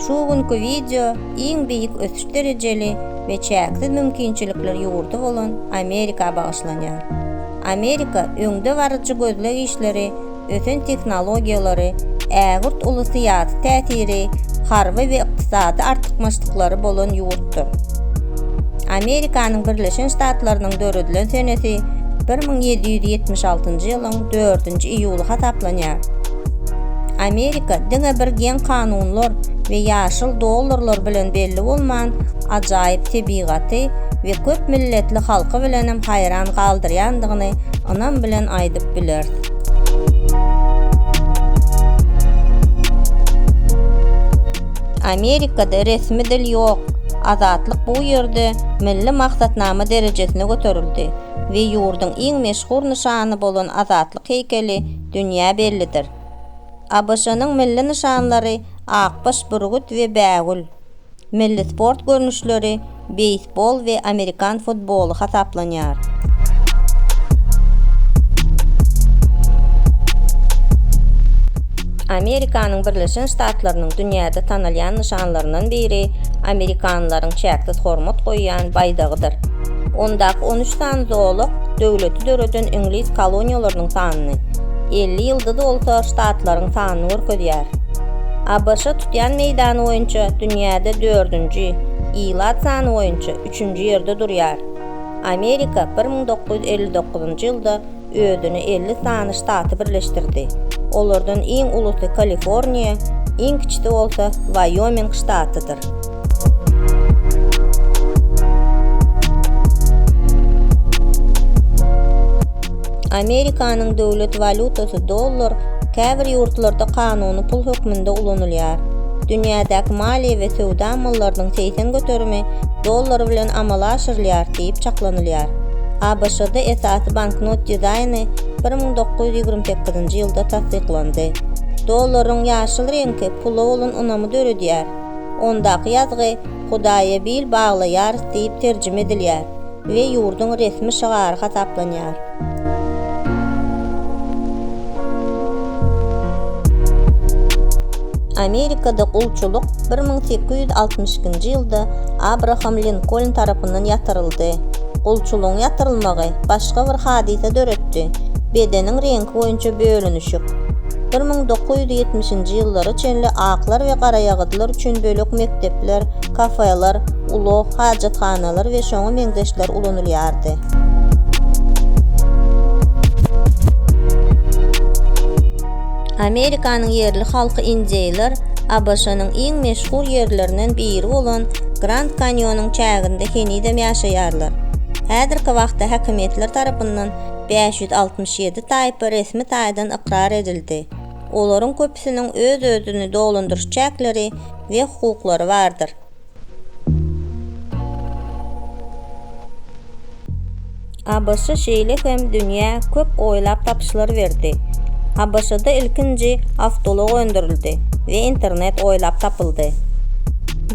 Şu günki wideo iň beýik ösüş derejeli we çäksiz mümkinçilikler ýurdy bolan Amerika bagyşlanýar. Amerika öňde baryjy gözleg işleri, ösen tehnologiýalary, ägirt uly syýasy täsiri, harby we ykdysady artykmaçlyklary bolan ýurtdyr. Amerikanyň Birleşen Ştatlarynyň döredilen senesi bir müň ýedi ýüz ýetmiş altynjy ýylyň dördünji iýuly hasaplanýar. Amerika diňe bir geň kanunlar we ýaşyl dollarlar bilen belli bolman, ajaýyp tebigaty we köp milletli halky bilenem haýran galdyrýandygyny ynam bilen aýdyp bileris. Amerikada resmi dil ýok, Azatlyk bu ýerde milli maksatnama derejesine göterildi we ýurduň iň meşhur nyşany bolan Azatlyk heýkeli dünýä bellidir. ABŞ-nyň milli nyşanlary akbaş bürgüt we bägül. Milli sport görnüşleri beýsbol we amerikan futboly hasaplanýar. Amerikanyň Birleşen Ştatlarynyň dünýäde tanalýan nyşanlaryndan biri amerikanlylaryň çäksiz hormat goýýan baýdagydyr. Ondaky on üç sany zolak döwleti döreden iňlis koloniýalarynyň sanyny, elli ýyldyz bolsa ştatlaryň sanyny görkezýär. ABŞ tutýan meýdany boýunça dünýäde dördünji, ilat sany boýunça üçünji ýerde durýar. Amerika bir müň dokuz ýüz elli dokuzynjy ýylda özüne elli sany ştaty birleşdirdi. Olardan iň ulusy Kaliforniýa, iň kiçisi bolsa Waýoming ştatydyr. Amerikanyň döwlet walýutasy dollar käbir ýurtlarda kanuny pul hökmünde ulanylýar. Dünýädäki maliýe we söwda amallarynyň segsen göterimi dollar bilen amala aşyrylýar, diýip çaklanylýar. ABŞ-da esasy banknot dizaýny bir müň dokuz ýüz ýigrimi sekizinji ýylda tassyklandy. Dollaryň ýaşyl reňki pula bolan ynamy döredýär. Ondaky ýazgy Hudaýa bil baglaýarys diýip terjime edilýär we ýurduň resmi şygary hasaplanýar. Amerikada gulçulyk bir müň sekiz ýüz altmyş ikinji ýylda Abraham Linkoln tarapyndan ýatyryldy. Gulçulygyň ýatyrylmagy başga bir hadysa döretdi, bedeniň reňki boýunça bölünişik. Bir müň dokuz ýüz ýetmişinji ýyllara çenli aklar we garaýagyzlar üçin bölek mekdepler, kafeler, ulag, hajathanalar we şoňa meňzeşler ulanylýardy. Amerikanyň ýerli halky injeýler ABŞ-nyň iň meşhur ýerlerinden biri bolan Grand Kanýonyň çäginde henizem ýaşaýarlar. Häzirki wagtda häkimiýetler tarapyndan bäş ýüz altmyş ýedi taýpa resmi taýdan ykrar edildi, olaryň köpüsiniň öz-özüni dolandyryş çäkleri we hukuklary bardyr. ABŞ şeýle hem dünýä köp oýlap tapyşlar berdi. ABŞ-da ilkinji awtoulag öndürildi we internet oýlap tapyldy.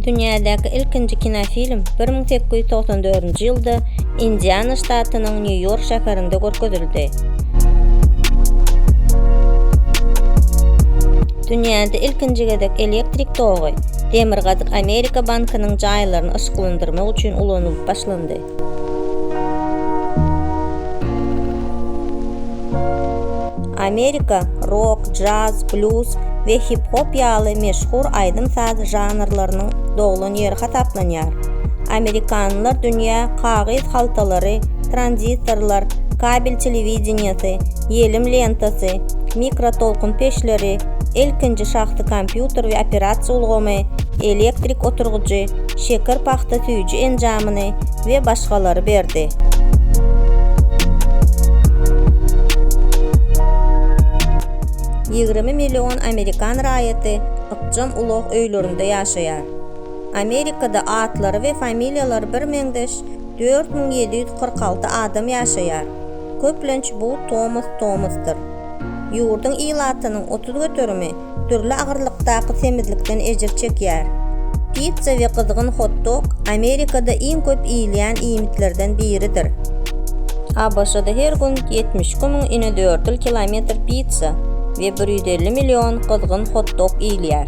Dünýädäki ilkinji kinofilm bir müň sekiz ýüz togsan dördünji ýylda Indiana ştatynyň Nýu-Ýork şäherinde görkezildi. Dünýäde ilkinji gezek elektrik togy Demirgazyk Amerika bankynyň jaýlaryny yşyklandyrmak üçin ulanylyp başlandy. Amerika rok, jaz, bluz we hip-hop ýaly meşhur aýdym-saz žanrlarynyň doglan ýeri hasaplanýar. Amerikanlylar dünýä kagyz haltalary, tranzistorlar, kabel telewideniýesi, ýelim lentasy, mikrotolkun peçleri, ilkinji şahsy kompýuter we operasiýa ulgamy, elektrik oturgyjy, şeker pagta süýji enjamyny we başgalary berdi. Ýigrimi million amerikan raýaty ykjam ulag öýlerinde ýaşaýar. Amerikada atlary we familiýalary birmeňzeş dört müň ýedi ýüz kyrk alty adam ýaşaýar, köplenç bu Tomus Tomusdyr. Ýurduň ilatynyň otuz göterimi dürli agyrlykdaky semizlikden ejir çekýär. Pitsa we gyzgyn hot-dog Amerikada iň köp iýilýän iýmitlerden biridir. ABŞ-da her gün ýetmiş iki müň inedördül kilometr pitsa we bir ýüz elli million gyzgyn hot-dog iýilýär.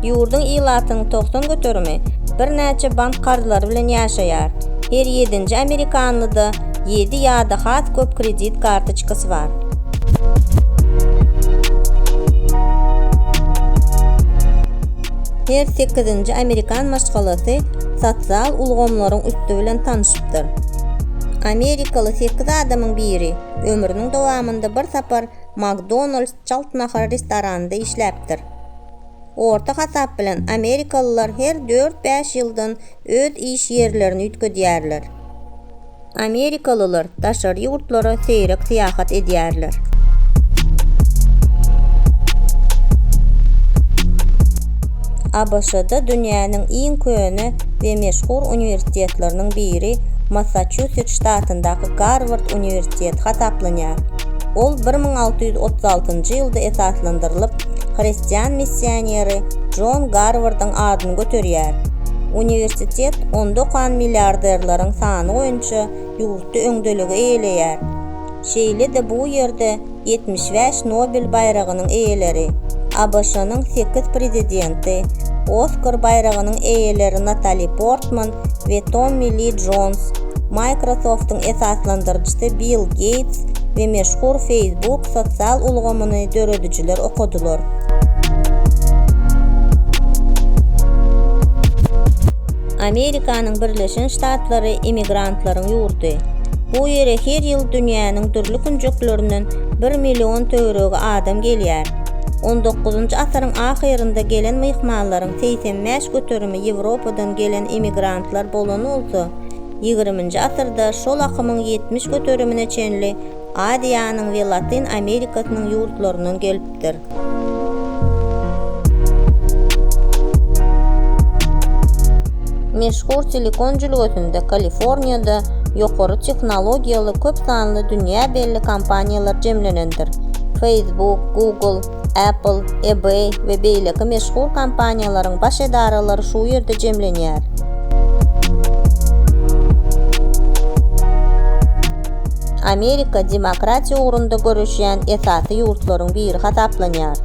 Ýurduň ilatynyň togsan göterimi birnäçe bank karzlary bilen ýaşaýar, her ýedinji amerikanly-da Ýedi ýa-da has köp kredit kartoçkasy bar. Her sekizinji amerikan maşgalasy sosial ulgamlaryň üsti bilen tanyşypdyr. Amerikaly sekiz adamyň biri ömrüniň dowamynda bir sapar McDonald's çalt nahar restoranynda işläpdir. Orta hasap bilen amerikalylar her dört-bäş ýyldan öz iş ýerlerini üýtgedýärler. Amerikalylar daşary ýurtlara seýrek syýahat edýärler. ABŞ-da dünýäniň iň köne we meşhur uniwersitetleriniň biri Massaçusets ştatyndaky Garward uniwersiteti hasaplanýar. Ol bir müň alty ýüz otuz altynjy ýylda esaslandyrylyp, hristian missioneri Jon Garwardyň adyny göterýär. Uniwersitet onda okan milliarderleriň sany boýunça ýurtda öňdeligi eýeleýär. Şeýle-de bu ýerde ýetmiş bäş Nobel baýragynyň eýeleri, ABŞ-nyň sekiz prezidenti, Oskar baýragynyň eýeleri Natali Portman we Tommi Li Jons, Microsoft-yň esaslandyryjysy Bill Geýts we meşhur Facebook sosial ulgamyny döredijiler okadylar. Amerikanyň Birleşen Ştatlary immigrantlaryň ýurdy. Bu ýere her ýyl dünýäniň dürli künjeklerinden bir million töweregi adam gelýär. On dokuzynjy asyryň ahyrynda gelen myhmanlaryň segsen bäş göterimi Ýewropadan gelen immigrantlar bolany bolsa, ýigriminji asyrda şol akymyň ýetmiş göterimine çenli Aziýanyň we Latyn Amerikasynyň ýurtlaryndan gelipdir. Meşhur Silikon jülgesinde Kaliforniýada ýokary tehnologiýaly köp sanly dünýä belli kompaniýalar jemlenendir, Facebook, Google, Apple, eBay we beýleki meşhur kompaniýalaryň baş edaralary şu ýerde jemlenýär. Amerika demokratiýa ugrunda göreşýän esasy ýurtlaryň biri hasaplanýar.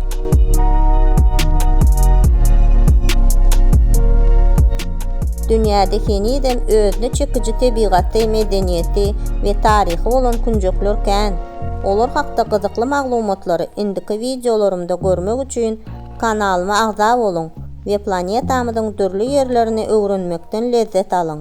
Dünýäde henizem özüne çekiji tebigaty, medeniýeti we taryhy bolan künjekler kän. Olar hakda gyzykly maglumatlary indiki wideolarymda görmek üçin kanalyma agza boluň we planetamyzyň dürli ýerlerini öwrenmekden lezzet alyň!